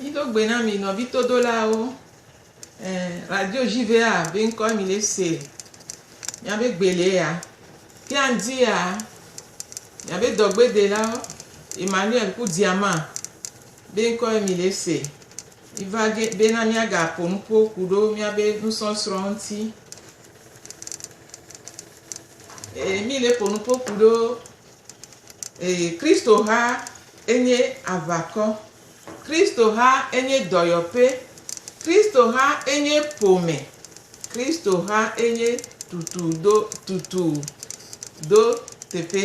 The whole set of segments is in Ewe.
Mído gbe na mi nɔvi todolawo. Eh, radio JVA be ŋkɔe mi le se. Míabe gbe le ya. Ke anzi ya. Míabe dɔgbedelawo Emmanuel ku Diama be ŋkɔe mi le se. Miva ge bena míagaƒo nu ƒo ku ɖo míabe nusɔsrɔ̃ ŋuti. Ee, míle ƒo nu ƒo ku ɖo ee, Kristoha enye aʋakɔ. Kristoha enye dɔyɔƒe. Kristoha enye ƒome. Kristoha enye tutu do tutu do teƒe.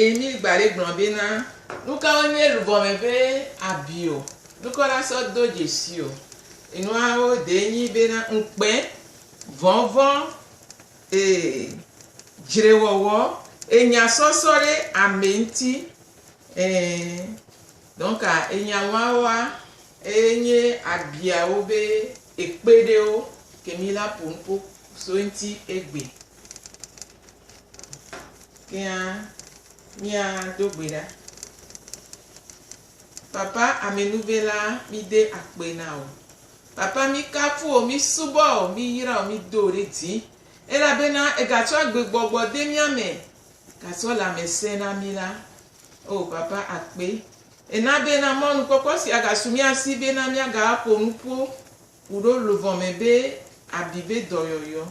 Emil Gbale gblɔ be na nukawo nye lugɔme be abi o, nukɔ la sɔ do dzesi o. Enuawo ɖee nyi be na ŋukpe, vɔvɔ̃, ee, dzrewɔwɔ, enya sɔsɔ ɖe ame ŋuti, ee. Donc enya wawoa eye nye abiawo be ekpe ɖewo ke mi la ƒo nuƒo so eŋuti egbe. Kea mía do gbe ɖa. Papa amɛnuve la mí de akpe na wò. Papa mí kafu wò, mí subɔ wò, mí yra wò, mí do wò ɖe dzi. Elabena ega tsɔ agbe gbɔgbɔ de mía me, ga tsɔ lãmesẽ na mí la. Oo papa akpe. Ena bena mɔnukpɔkpɔ sia ga su mía si bena mía ga ƒo nuƒo Ku ɖo luʋɔ mɛ be abi be dɔyɔyɔ.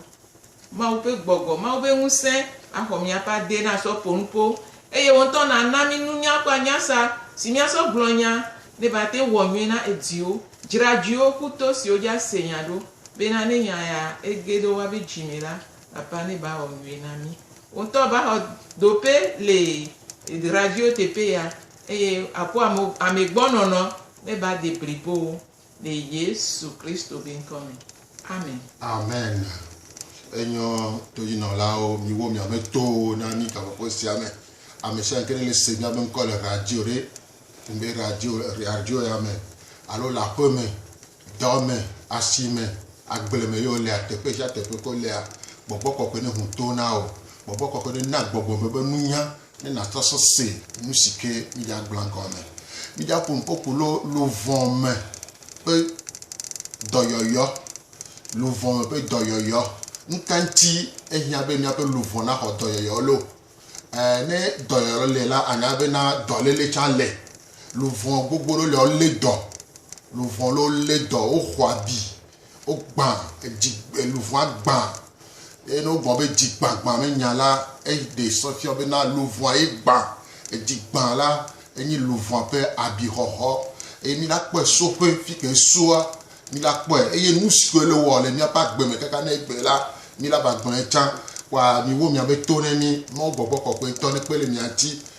Mawu ƒe gbɔgbɔ, Mawu ƒe ŋusẽ axɔ míaƒe ade na sɔ ƒo nuƒo, eye wo ŋutɔ nàna mí nunya kple anyasa si míasɔ gblɔ nya ne va te wɔ nyuie na ediwo, dzrajuiwo ku to siwo dzi ase nya ɖo, bena ne nya ya ege ɖe woa be dzi me la, Papa ne ba wɔ nyuie na mí. Wo ŋutɔ ba xɔ dope le drajuiwo teƒe ya, eye akpɔ ame gbɔ nɔnɔ ne ba de blibo wo. le Yesu Kristo be ŋkɔ me. Amen. Amen. Enyɔ toyinɔlawo, miwo miame towo na mi gaƒoƒo sia me. Amesianke ɖe le se miabe ŋkɔ le radio ɖe, ŋbe radio, radio ya me, alo le aƒe me, dɔ me, asi me, agble me ye wolea, teƒe sia teƒe ke wolea, gbɔgbɔ kɔkɔe ne ŋu to na wo. Gbɔgbɔ kɔkɔe ne na gbɔgbɔ me be nunya Ne nàtrɔ so se nu si ke mídagblɔ gɔme. Mídaƒo nu kpokpo lo luʋɔ me ƒe dɔyɔyɔ. Luʋɔ me ƒe dɔyɔyɔ. Nu ka ŋuti ehiã be míaƒe luʋɔ naxɔ dɔyɔyɔ lo? Ẽ, ne dɔyɔyɔ le la, ànya be na dɔléle tsã le. Luʋɔ gbogbo ɖewo le, wolé dɔ. Luʋɔ ɖewo lé dɔ, woxɔ abi. Wogbã, edzi, luʋɔa gbã. Eye ne wogblɔ be dzi gbã gbã me nya la, eɖee sɔ fiɔ be na luʋɔa ye gbã. Edzi gbã la, enyi luʋɔa ƒe abixɔxɔ. Eye mi la kpɔe so ƒe fi ke esoa, mi la kpɔe. Eye nu siwo le wɔ le miaƒe agbe me kaka ne egbe la, mi la va gblɔe tsã. Kpɔa, miwo miabe to ne mi, Mawu gbɔgbɔ kɔkɔetɔ nekpe le mia ŋuti,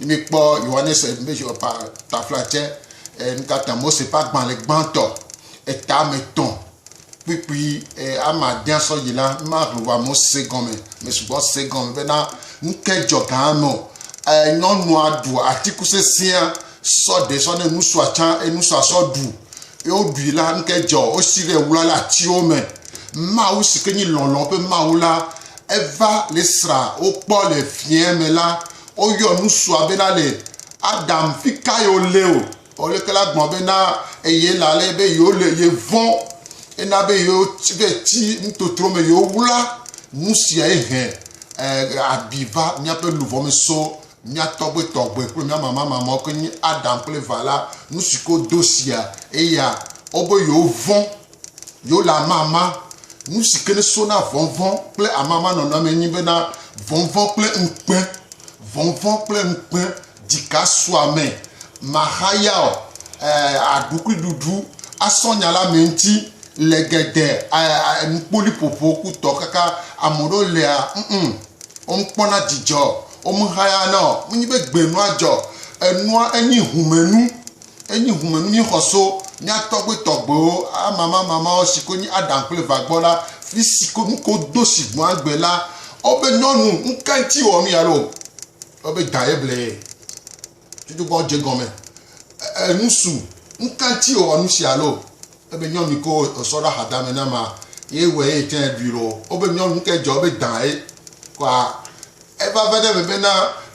Míkpɔ Yohanes ƒe taflatse, nu ka ta Mose ƒe agbalẽ gbãtɔ, etame tɔ̃ kpukpui ame adea sɔ yi la, mahle wòa me se gɔme, me sugbɔ se gɔme bena nu ke dzɔ gã eme o. Nyɔnua ɖu atiku sesẽa sɔ ɖe sɔ ne nusua tsã, eye nusua sɔ ɖu. Ye woɖui la, nu ke dzɔ, wosi ɖe wla le atiwo me. Mawu si ke nye lɔlɔ̃ ƒe Mawu la, eva le esra wokpɔ le fiẽ me la, Woyɔ nusua bena le Adam fika yo le o. Ole kala gbɔn bena eye la le be yo le ye vɔ. Ena be yo be ti ntotro me yo wla nusia ye hɛ abi va miaƒe luvɔ me so mia tɔgbe tɔgbe kple mia mama mama ke nye Adam kple va la nusiko do sia eya o be yo vɔ. yewo le amama. Nu si ke so na vɔvɔ̃ kple amama nɔnɔ me nyi bena vɔvɔ̃ kple ŋukpe. Vɔvɔ̃ kple ŋukpe dzika sua ame. Mahaya o, eh, aɖukuiɖuɖu asɔ nya la me ŋuti le gede, eh, eh, nukpoliƒoƒo ku tɔ kaka. Ame ɖewo lea, mm, womekpɔna dzidzɔ o, womehayana o. Menye be gbenua dzɔ o. Enua enyi humenu. Enyi ŋumenu míexɔ so mía tɔgbe tɔgbewo amamamamawo si ko nyi Adam kple Eva gbɔ la, fi si ko nuko do si gbɔ agbe la. Wobe nyɔnu, nuka ŋuti wòwɔ nu ya loo? Wobe da ye ble ye. Tutugbɔ dze gɔme. Enusu, nuka ŋuti wòwɔ nusia loo? Ebe nyɔnu yike wosɔ ɖe ahadame na ma ye wɔe eye tsã ɖui loo. Wobe nyɔnu yike dzɔ ebe dã ye kɔa. Eva va ɖe eme bena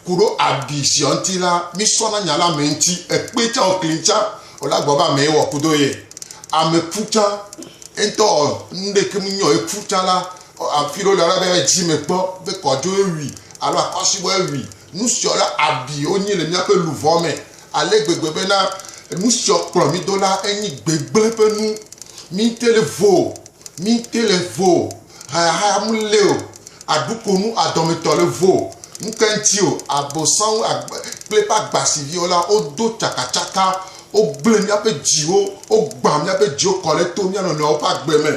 kuɖo abi ziɔ ŋuti la, mi sɔ na nya la ame ŋuti ekpe tsã o kli tsã o la gbɔ be ame ye wɔ ku do ye. Ame ku tsã eŋutɔ ɔ nuɖeke me nyɔ eku tsã la afi ɖe wo le la be edzi me kpɔ be kɔdzo ye wui alo akɔsibɔ ye wui Nusiɔ la abi wonyi le míaƒe luʋɔ me ale gbegbe bena nusiɔ kplɔ mí do la enyi gbegblẽ ƒe nu. Míte le vo o, míte le vo o, hayahaya mele o, aɖukonu adɔmetɔ le vo o, ŋkeŋti o, Abosam kple eƒe agbasiviwo la wodo tsakatsaka, wogblẽ míaƒe dziwo, wogbã míaƒe dziwo kɔ ɖe to míanɔnɔewo ƒe agbe me,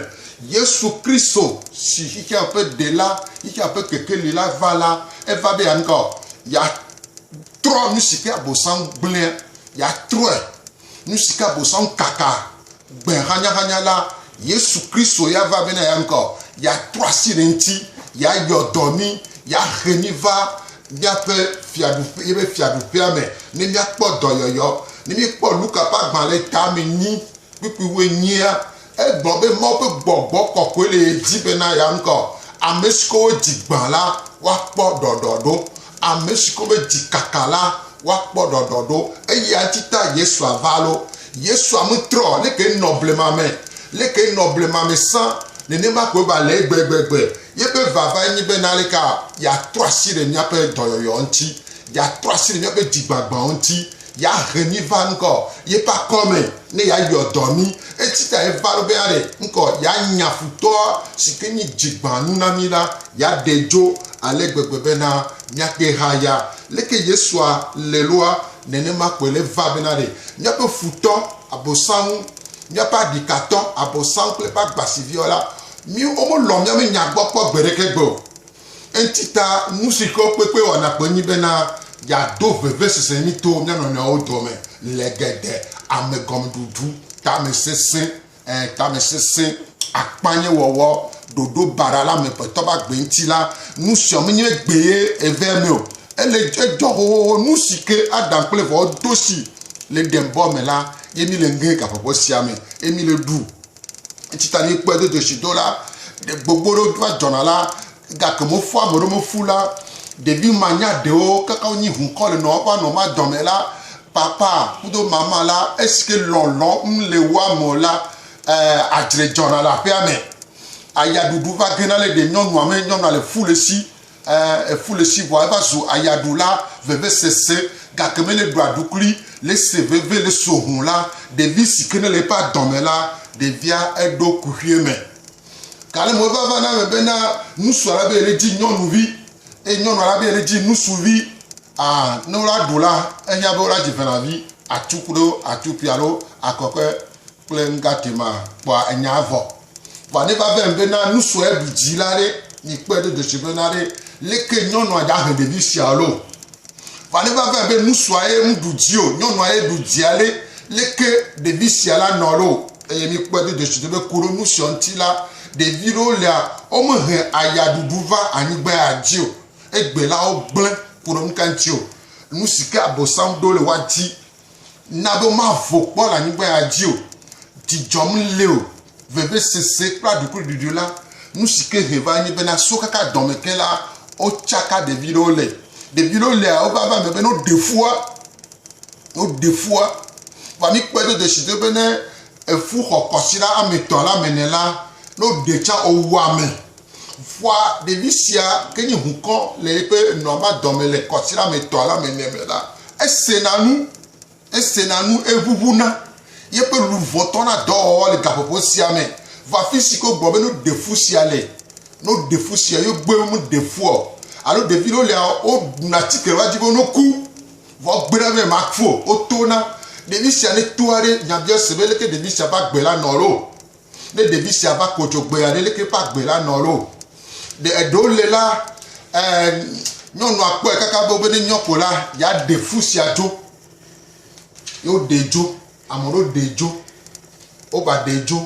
Yesu Kristo si xexea ƒe Ɖela, xexea ƒe Kekeli la va la, eva be yeanu ka o? Yeatrɔ nu si ke Abosam gblẽa, yeatrɔe. Nu si ke Abosam kaka gbe hanyahanya la, Yesu Kristo ya va bene yeanu ka o? Yeatrɔ asi ɖe eŋuti, yeayɔ dɔ mí, yeahe mí va míaƒe fiaɖuƒe, yeƒe fiaɖuƒea me ne míakpɔ dɔyɔyɔ. Ne míekpɔ Luka ƒe agbalẽ tame enyi kpukpuiwu enyia, Egblɔ be Mawu ƒe gbɔgbɔ kɔkɔe le ye dzi bena yeaŋkɔ ame siwo ƒe dzi gbã la woakpɔ ɖɔɖɔɖo, ame siwo ƒe dzi kaka la woakpɔ ɖɔɖɔɖo, eye eyae ta Yesua va. Alo, Yesua metrɔ o, leke enɔ blema me, leke enɔ blema me sã, nenema koe va le egbegbe. Yeƒe vavae nye bena aleke yeatrɔ asi ɖe míaƒe dɔyɔyɔ ŋuti, yeatrɔ asi ɖe míaƒe dzigbagbãwo ŋuti, ya he mi va ŋkɔ ye pa kɔme ne ya yɔ dɔ mi etsi ta ye va be ya ɖe ŋkɔ ya nya futɔ si ke nyi dzigbanu na mi la ya ɖe dzo ale gbegbe be na mia kpe ha ya leke yesua le loa nene ma kɔe le va be na ɖe mia ƒe futɔ abosanwu mia ƒe aɖikatɔ abosanwu kple ƒe agbasiviɔ la mi wo mo lɔ mia me nya gbɔ kpɔ gbe ɖeke gbe o. Eŋti ta nu si xlɔ̃ kpekpe wɔna kpɔ nye bena yeado vevesese mí to mía nɔnɔewo dome le geɖe amegɔmeɖuɖu, tamesesẽ, ẽ, tamesesẽ, akpanyewɔwɔ, ɖoɖo baɖa la amegbetɔ ƒe agbe ŋuti la. Nu sia menye gbee eve eme o. Ele edzɔ xoxoxo nu si ke Adam kple Evao do si le Edenbɔ me la ye mí le ŋe gaƒoƒo sia me ye mí le ɖu. Eŋti ta ni kpɔe do dzesi do la, gbogbo ɖewo va dzɔna la, gake mo fu ame ɖewo mo fu la, ɖevi ma nya ɖewo kaka wo nyi ŋu kɔ le nɔ va nɔ ma dɔmɛ la, papa kudo mama la, esi ke lɔlɔ ŋ le woa me o la, ɛɛ, adzre dzɔna le aƒea me. Aya ɖuɖu va gena le ɖe nyɔnua me, nyɔnua le fu le si. Ɛɛ, eƒu le si vɔa eva zu ayaɖula vevesese, gake mele ɖu aɖukli le se veve le so ho la, ɖevi si ke nele eƒe adɔ me la, ɖevia eɖo kuxuie me. Gale mo eva va na me bena ŋusua la be yele dzi nyɔnuvi, eye nyɔnua la be yele dzi ŋusuvi. Aa, ne wola ɖu la, ehiã be wola dzi ʋelavi, atu kuɖo atupi alo akɔkɔe kple nugatema kpɔa enya vɔ. Vɔ ne va vem be na nu sue ɖu dzi la ɖe, mi kpɔe ɖo dzesi be na ɖe leke nyɔnua dza he ɖevi sia lo. Vɔ ne va vem be nu sua ye nu ɖu dzi o, nyɔnua ye ɖu dzia ɖe, leke ɖevi sia la nɔ lo. Eye mi kpɔe ɖo dzesi be ku ɖo nu sia ŋuti la, ɖevi ɖewo lea, wome he aya ɖuɖu va anyigba ya dzi o. Egbe la wogblẽ ku ɖo nu ka ŋuti o? Nu si ke abosam ɖo le woa di. Na be mavo kpɔ le anyigba ya dzi o, dzidzɔ mele o, vevesese kple aɖukliɖuɖu la, nu si ke he va nye bena so kaka dɔme ke la, wotsaka ɖevi ɖewo le. Ɖevi ɖewo lea wova va eme be ne woɖe fua, ne woɖe fua, vɔa mikpɔe do dzesi do be ne efu xɔ kɔsiɖa ame etɔ̃ la me ne la, ne woɖe tsa owua ame. Ƒua ɖevi sia ke nye hukɔ le eƒe nɔa ba dɔme le kɔtira me tɔa la me nɛ la, esena nu, esena nu, eʋuʋuna, yeƒe luʋɔ tɔna dɔwɔwɔ le gaƒoƒo sia me va fisi ke wogblɔ be no ɖe fu sia le, no ɖe fu sia, yo gbe me ɖe fuɔ, alo ɖevi ɖewo lea wo ɖuna atike va dzi be no ku, vɔ gbe ɖa be ma ku o, wo tona ɖevi sia ne toa ɖe nya bia se be leke ɖevi sia va gbe la nɔ lo. Ne ɖevi sia va ko dzogbea ɖe leke eƒe agbe la nɔ ɖo? Ɖe eɖe wole la, ɛɛ, nyɔnua kpɔe kaka be ne nyɔ ko la, yeaɖe fu sia dzo. Ye woɖee dzo. Ame aɖewo ɖee dzo. Wova ɖee dzo.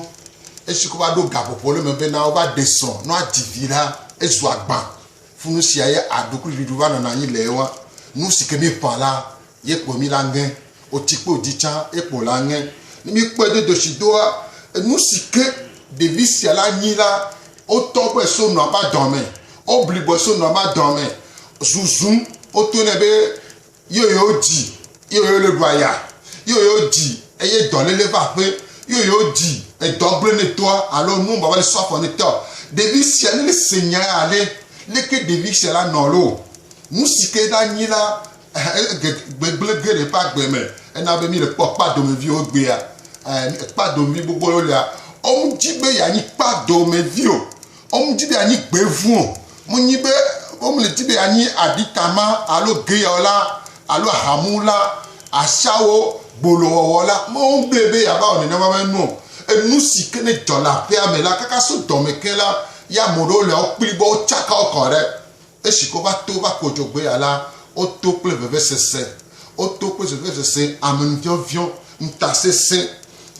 Esi wova ɖo gaƒoƒo le eme be na wova ɖe srɔ̃ ne woadzi vi la, ezu agbã. Funu sia ye aɖukliɖuɖu va nɔna anyi le ewa. Nu si ke míeƒã la, Ye kpo mí la ŋe o tsi kpo dzi tsã ye kpo la ŋe ni mí kpɔe do doshi doa enu si ke ɖevi sia la nyi la wo tɔ gbɔe so nua ba dɔa me wo bli gbɔe so nua ba dɔa me zuzu wo to nɛ be yo yo dzi yo yo le ɖua ya yo yo dzi eye dɔ lele va ƒe yo yo dzi edɔ gblẽ ne toa alo nu baba le so afɔ ne tɔ ɖevi sia ne le se nya ya le leke ɖevi sia la nɔ lo nu si ke la nyi la Gbegblẽ geɖe ƒe agbe me, ena be míele kpɔ kpadomeviwo gbea. Kpadomevi gbogbo aɖewo lia, womedi be yeanyi kpadomevi o. Womedi be yeanyi gbevu o. Menyi be womedi be yeanyi aɖitama alo geyɔla alo ahamula, ashawo, gbolowɔwɔla. Womedi be yeava wɔ nenema ƒe nu o. Enu si ke ne dzɔ le aƒea me la, kaka so dɔme ke la, ya ame aɖewo le wo kpli be wotsaka wo kɔ ɖe Esi ke woƒe to va kɔ dzɔgbee alea, woto kple vevesese, woto kple vevesese, amenuviɔviɔ, ŋutasesẽ,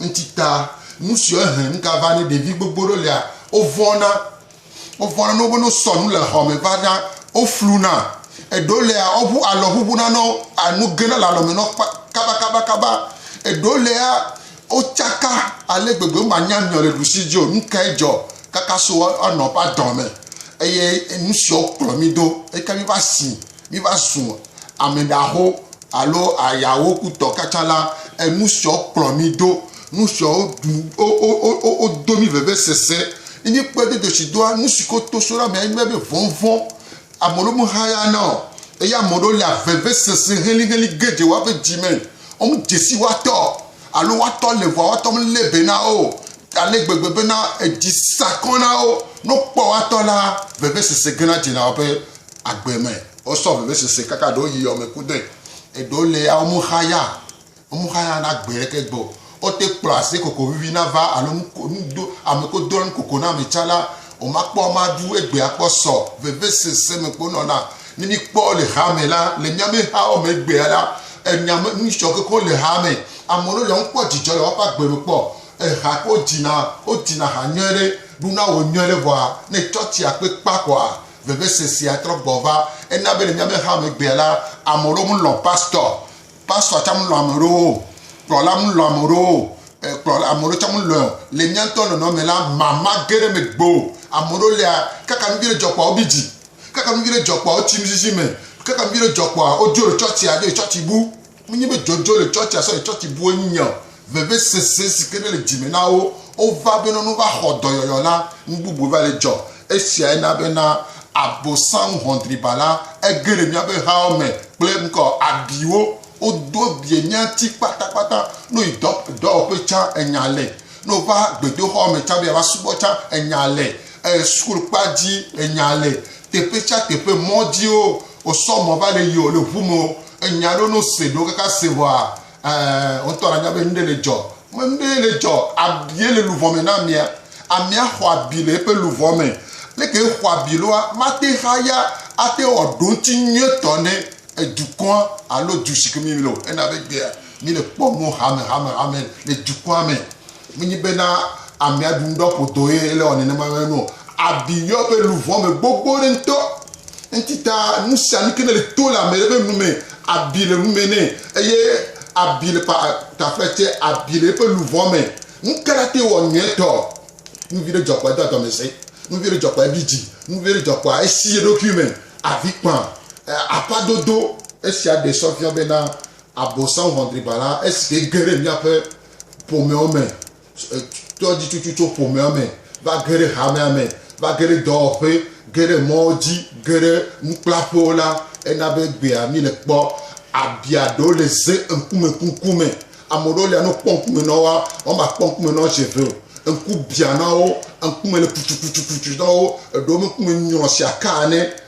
ŋutita, nu siwo ehe nugava ne ɖevi gbogbo ɖewo lea, wovɔ̃na. Wovɔ̃na ne wobe ne wosɔ nu le xɔme va na, wofluna. Eɖewo lea, woʋu alɔ ʋuʋuna na wo, enu gena le alɔme na wo kabakabakaba. Eɖewo lea, Wotsaka ale gbegbe, womanya nɔ le ɖusi dzi o, nu kae dzɔ kaka so anɔ ƒe adɔ me, eye nu siwo kplɔ mi do, eka mi va si mi va zu ame ɖaho alo ayawo kutɔ katã la, enu siwo kplɔ mi do, nu siwo wodo mi vevesese, ne mi kpɔe do dzesi doa, nu si ko to so ɖe ame enye be vɔvɔ̃, ame ɖewo me hayana o, eye ame ɖewo lia vevesese heliheli geɖe woƒe dzi me. Womedze si woatɔ alo woatɔ le ʋua woatɔ melé be na wo o, ale gbegbe bena edzi sa kɔ na wo. Ne wokpɔ woatɔ la, vevesese gena dzena woƒe agbe me. Wosɔ vevesese kaka ɖewo yi yɔme kudɔe. Eɖewo le ya, womexa ya, womexa ya na gbe ɖeke gbɔ o. wote kplɔ ase koko vivi na va alo nudo ame ko do anu koko na ame tsa la, o ma kpɔ ama ɖu egbe akpɔ sɔ veve sese me kpo nɔ na. Ne mi kpɔ le ha me la, le mia me ha o me egbea la, enya me nu sɔ koko le ha me. Ame ɖewo le ŋu kpɔ djidjɔ le woaƒe agbe me kpɔ eha ko dina, o dina ha nyɔe ɖe, ɖu na wo nyɔe ɖe vɔa ne tsɔtsia kpe kpa koa, veve sesea trɔ gbɔ va. Ena be le mia me ha me egbea la, ame ɖewo mu lɔ pastɔ Pastor tsã melɔ̃ ame ɖewo o, kplɔla melɔ̃ ame ɖewo o, kplɔ ame ɖewo tsã melɔ̃e o. Le mía ŋutɔ nɔnɔme la, mama ge ɖe megbe o. Ame ɖewo lia, kaka nu vi ɖe dzɔ kpɔa wobi dzi, kaka nu vi ɖe dzɔ kpɔa wotsi nuzizi me, kaka nu vi ɖe dzɔ kpɔa wodzo le tsɔtsia, dzo le tsɔtsi bu. Menye be dzodzo le tsɔtsia sɔ le tsɔtsi bue nye o. vevesese si ke nele dzi me na wo wova bena ne wova xɔ dɔyɔyɔ la, nu bubu va le dzɔ. Esiae na bena Abosam ʋɔnudriba la ege ɖe míaƒe hawo me kple ŋkɔ abiwo. Wodo abie mía ŋuti kpatakpata. Ne woyi dɔ, dɔwɔƒe tsã, enya le. Ne wova gbedoxɔ me tsã be yeava subɔ tsã, enya le. E, sukulukpa dzi, enya le. Teƒe sia teƒe, mɔ dziwo, wosɔ mɔ va le yi o, le ŋu me o, enya ɖewo ne wose ɖewo kaka se vɔa, Ɛɛ, wotɔ nanya be nuɖe le dzɔ. Me nuɖe le dzɔ. Abie le luʋɔ me na amia. Amia xɔ abi le eƒe luʋɔ me. Leke exɔ abi loa, mate haya ate wɔ ɖoŋti nyuietɔ ne edukɔa alo du si ke mi le o. Ena be gbea mi le kpɔ mɔ hame, hame, hame le dukɔa me. Menye bena amea ɖu nuɖɔ ƒodoe le wɔ nenema me nɔ abi yɔ be luvɔ me gbogbo ɖe ŋutɔ. Enti ta nu sia nu ke ne le to le ame ɖe ƒe nu me, abi le nu me nɛ eye abi le pa taƒe tse abi le eƒe luvɔ me. Nu ka ɖa te wɔ nyuietɔ? Nu vi ɖe dzɔ kpɔa edo adɔmesɛ, nu vi ɖe dzɔ kpɔa ebi dzi, nu vi ɖe dzɔ kpɔa esi ye ɖokui me avi kpã. Aƒa dodo. Esia ɖe sɔ fiɔ bena Abosam ʋɔnudribala esi ke ge ɖe miaƒe ƒomewo me, tɔdzitsutsu tso ƒomewo me va ge ɖe hamea me, va ge ɖe dɔwɔƒe, ge ɖe mɔwo dzi, ge ɖe nukplaƒewo la, ena be egbea míle kpɔ abia ɖewo le ze ŋkume kuku me. Ame ɖewo lia ne wokpɔ ŋkume na woa, womakpɔ ŋkume na wo zi eve o. Ŋku bia na wo, ŋkume le kutsukutsukutsu na wo, eɖewo ƒe ŋkume nyrɔ si aka ene.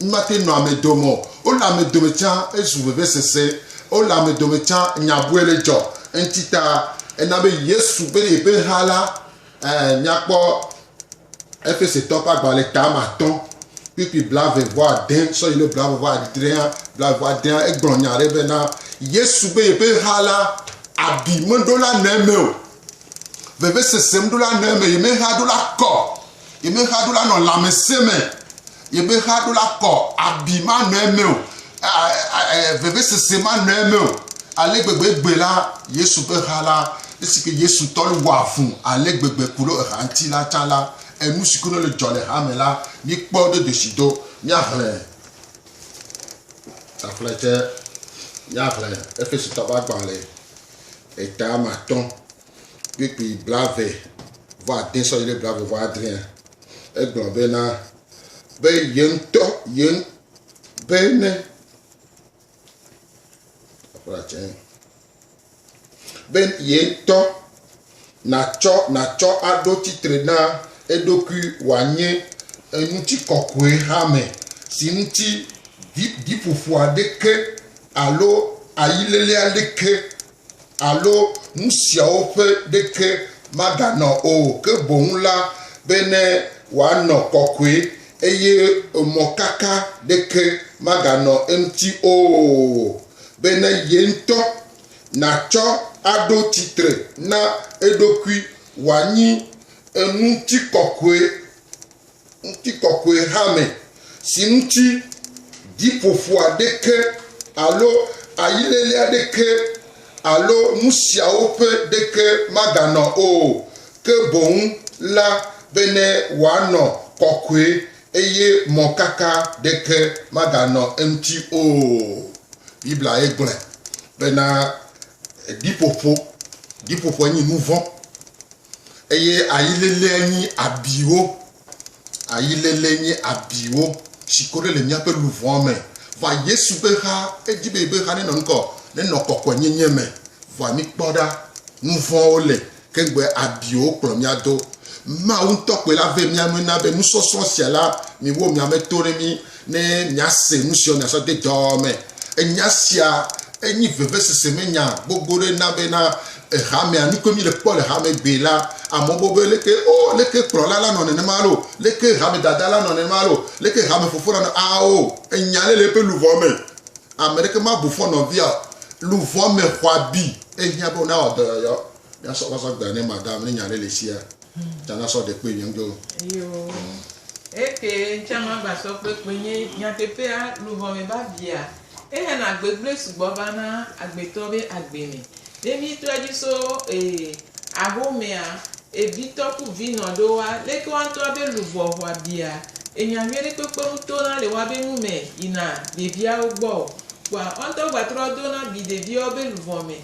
Mate nɔ ame dome o. Wole ame dome tsã, ezu vevesese. Wole ame dome tsã, nya bɔe le dzɔ. Eŋti ta ena be Yesu be yeƒe ha la, ɛɛ, míakpɔ Efesetɔ ƒe agbalẽ eta me atɔ̃ kpukpui blaeve vɔ ade sɔ yi ɖe blaeve vɔ adrea, blaeve vɔ adea, egblɔ nya aɖe be na Yesu be yeƒe ha la, abi meɖo la nɔ eme o. Vevesese meɖo la nɔ eme, yemeha ɖo la kɔ. Yemexa ɖo la nɔ lãmesẽ me. Yemexa ɖo la kɔ abi manɔ eme o, vevesese manɔ eme o. Ale gbegbe gbe la, Yesu ƒe ha la, esi ke Yesu tɔ le wɔa fu ale gbegbe ku ɖe eha ŋuti la tsã la, enu si ke nɔ le dzɔ le ha me la, míkpɔ do dzesi do. Míaxlẽ taflɛtɛ, míaxlẽ Efesotɔwo ƒe agbalẽ etama atɔ̃. kpukpui blaeve vɔ ade sɔ yi ɖe blaeve vɔ adrea, egblɔ be na be ye ŋutɔ ye be ne be ye ŋutɔ natsɔ natsɔ aɖo tsitre na eɖokui wòanye eŋuti kɔkɔe hame si ŋuti ɖiƒoƒo aɖeke alo ayilele aɖeke Alo nu siawo ƒe ɖeke maganɔ o, ke boŋ la, bene wòanɔ kɔkɔe, eye mɔkaka ɖeke maganɔ eŋuti o, bene ye ŋutɔ nàtsɔ aɖo tsitre na eɖokui wòanyi ŋutikɔkɔe. Ŋutikɔkɔe hame, si ŋuti ɖiƒoƒo aɖeke alo ayilele aɖeke alo nu siawo ƒe ɖeke maganɔ o, ke boŋ la, bene wòanɔ kɔkɔe, eye mɔkaka ɖeke maganɔ eŋuti o. Bibliae gblɔe bena ɖiƒoƒo, ɖiƒoƒoe nye nuvɔ̃. Eye ayiléléa nyi abiwo. Ayilélé nyi abiwo si ko ɖe le míaƒe luʋɔa me. Vɔa Yesu be xa, edi be yebe xa nenɔ ŋkɔ, nenɔ kɔkɔenyenye me. Vɔa mikpɔ ɖa, nuvɔ̃wo le, ke ŋgbe abiwo kplɔ mía do. Mawu ŋutɔ koe la ve mía nue na be nusɔsrɔ̃ sia la miwo miame to ɖe mí. Ne miase nu siwo miasɔ de dɔ me. Enya sia enyi vevesese me nya gbogbo ɖe na be na hamea, nu ke mi le kpɔ le hame gbe la, amewo bo be leke o, leke kplɔla la nɔ nenema lo, leke hame dada la nɔ nenema lo, leke hame fofo la nɔ ao. Enya le le eƒe luʋɔ me. Ame ɖeke ma bu fɔ nɔvia o. Luʋɔ me xɔ abi. Ehiã be wona wɔ dɔyɔyɔ. Nasɔ va sɔ gbe ne madam ne nya ɖe le sia. Tsa nasɔ ɖe kpe nye ŋdɔ. Eyo. Eke ŋtsa ma va sɔ kpe kpe nye nyatepea luvɔ me ba via. Ehe na gbegble sugbɔ va na agbetɔ be agbe me. Ne mi trɔ dzi so ee aho mea, evi tɔ ku vi nɔ ɖo wa leke wa ŋtɔ abe luvɔ hwa bia. Enya nyuie ɖe kpekpe ŋu to na le wa be nu me yi na ɖevia wo gbɔ o. Kpɔa wa ŋtɔ gba trɔ do na bi ɖevia wo be luvɔ me.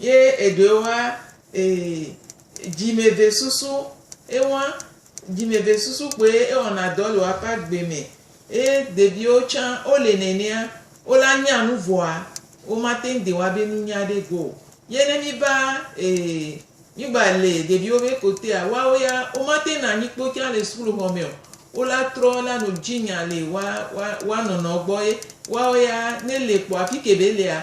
Ye eɖewo hã, ee, dzimevesusu, ewa dzimevesusu kpoe ewɔna dɔ le woaƒe agbe me. Ye ɖeviwo tsã wole nenea, wola nya nu vɔa, womate ŋu de woabe nunya ɖe go o. Ye ne míva, ee, mígba le ɖeviwo be kotea, woawo ya, womate ŋu nanyi kpo tsã le sukuxɔ me o. Wola trɔ la no dzinya le woa, woa, woa nɔnɔ gbɔ ye woawo ya, ne le kpo afi ke be lea,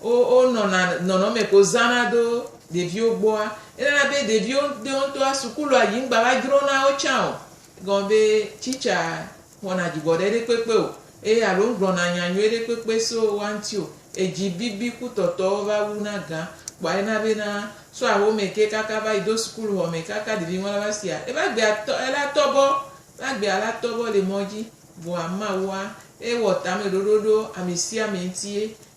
Wo wonɔna nɔnɔme ko zãna do ɖeviwo gbɔa, enana be ɖeviwo ɖewo ŋutɔa sukulua dzi ŋgba va dzro na wo tsã o. Egɔme be tsitsa xɔna dzigbɔɖe ɖekpekpe o eye alo ŋgblɔna nya nyui ɖekpekpe so woa ŋuti o. Edzi bibi kutɔtɔwo va wuna gã kpɔa ena be na so ahome ke kaka va yi do sukuluxɔ me kaka ɖevi ŋɔla va sia ebe agbea tɔ ela tɔ bɔ ebe agbea la tɔ bɔ le mɔ dzi vɔa Mawua ewɔ tameɖoɖo ɖo ame sia ame ŋuti ye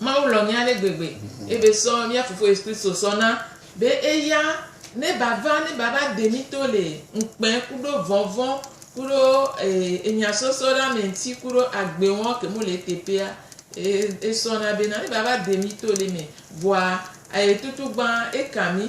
Mawu lɔ mía ale gbegbe ye be sɔ mía Fofo Yesu Kristo sɔ na be eya ne ba va ne ba va de mí to le ŋukpɛ kuɖo vɔnvɔn kuɖo enya sɔsɔ ɖe ame ŋuti kuɖo agbe wɔn ke mu le eteƒea. Esɔ na be na ne ba va de mí to le me vɔa aye tutu gbã eka mí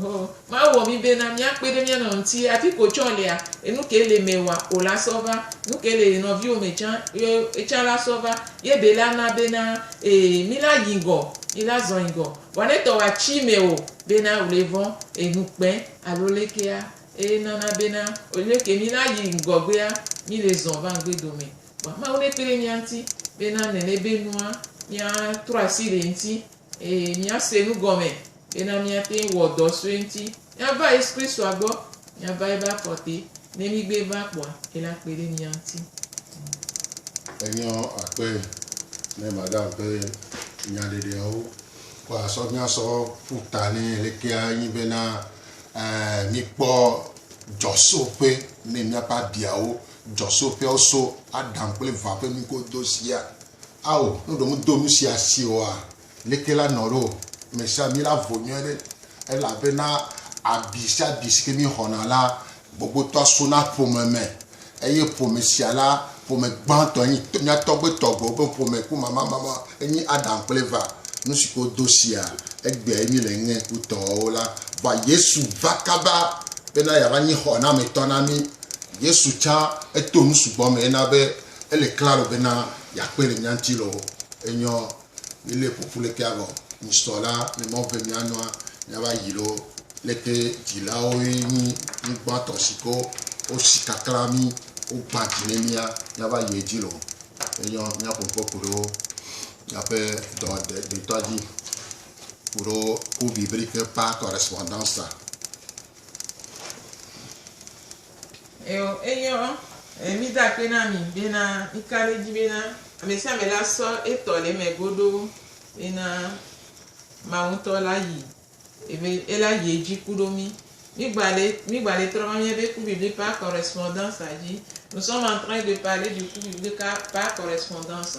Ho, ma wɔ mi be na mia kpe ɖe mia nɔ ŋti, afi ko tsɔ lea, enu ke le me wa o la sɔ va, nu ke le nɔviwo me tsã, ye etsã la sɔ va, ye be la na be na, e, mi la yi ŋgɔ, mi la zɔ yi ŋgɔ, vɔ ne tɔ wa tsi me o, be na o le vɔn, e, nu kpɛ, alo lekea, e nana be na, o le ke mi la yi ŋgɔ gbea, mi le zɔ va ŋgbe dome. Vɔa Mawu ne kpe ɖe mia ŋti, be na nele be nua, mia trɔ asi le ŋti, Eye míase nu gɔme bena míate ŋu wɔ dɔ sue ŋuti. Míava Yesu Kristoa gbɔ, míava eƒe afɔ te. Ne mígbee va kpɔa, ele akpe ɖe mía ŋuti. Enyo akpe ne Madame ƒe nyaɖeɖeawo ko asɔ míasɔ ƒu ta nɛ lekea nye bena, mikpɔ dzɔsoƒe ne míaƒe abiawo, dzɔsoƒeawo so Adam kple Eva ƒe nugodo sia. Ao, ne wòɖo ŋu do nu sia si oa, leke la nɔ ɖo? Ame sia ame la vo nyuie ɖe, elabena abi sia abi si ke míexɔna la, gbogbotɔa sona ƒome me, eye ƒome sia la, ƒome gbãtɔ enye mía tɔgbe tɔgbewo ƒe ƒome ku mamamama, enye Adam kple Eva. Nu si ke wodo sia, egbeae míele ŋe kutɔwo la va. Yesu va kaba bena yeava nye xɔnametɔ na mí. Yesu tsã, eto nu sugbɔ me hena be Ele klaro bena yeakpɔe le mía ŋuti loo. Enyɔ mílée ƒo ƒu lekee avɔ ŋsɔ la le Mawu be míanɔa, míava yi loo. Leke dzilawoe nyi mí gbãtɔ siko wosi kaklã mí, wogbã dzi ne mía, míava yi edzi loo. Enyɔ míaƒo ŋkɔ ku ɖo míaƒe dɔwɔɖetɔa dzi ku ɖo Cours biblique par correspondance. Eo, enyo, e, mi da kpe na mi bena mi ka ɖe edzi bena amesiame la sɔ etɔ le eme godoo bena Mawu ŋutɔ la yi ebe ela yi edzi ku ɖo mi. Mi gba le, mi gba le trɔ va miabe coup biblique par correspondance a dzi. Nous sommes en train de parler du coup biblique par correspondance.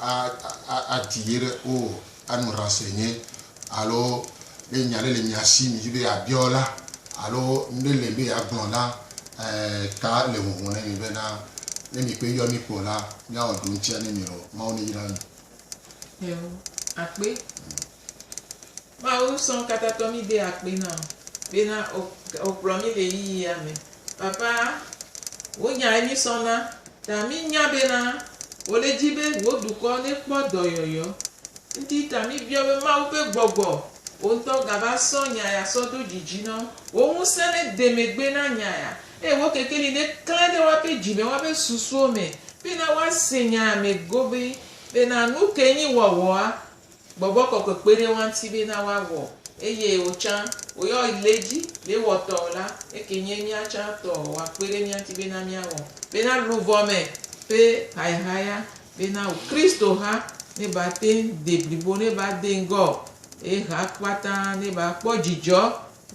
a, a, adi ye ɖe o, anu ranse nye, alo ne nya ɖe le mia si midi be yeabiɔ la, alo nuɖe le be yeagblɔ la, ɛ, ta le huhɔ̃ ne mi bena, ne mi kpe yɔ mi kpɔ la, miawɔ ɖoŋtsia ne mi lɔ. Mawu neyra mi. Eo, akpe. Mawu sɔ ŋkatatɔ mí de akpe na wò bena wò kplɔ mí le yiyi ya me. Papa, wò nya ye mí sɔ na, ta mí nya bena wò le dzi be wò dukɔ ne kpɔ dɔyɔyɔ. Ŋti ta mí biɔ be Mawu be gbɔgbɔ wò ŋtɔ ga va sɔ nya ya sɔ do dzi dzi na wò. Wò ŋusẽ ne de megbe na nya ya, eye wò kekeli ne klẽ ɖe woape dzi me, woape susuwo me bena woase nya ya me gobii bena nuke nyi wɔwɔa. Gbɔgbɔ kɔkɔe kpe ɖe woaŋti be na woawɔ, eye wotsã woyɔ le dzi be wɔtɔ la, eke nye míatsã tɔ woakpe ɖe míaŋti be na míawɔ, be na luvɔ me ƒe hayahaya, be na wò Kristo ha ne ba te de blibo ne ba de ŋgɔ, eye ha kpata ne ba kpɔ dzidzɔ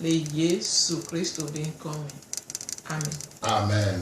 le Yesu Kristo be ŋkɔ me. Amen. Amen.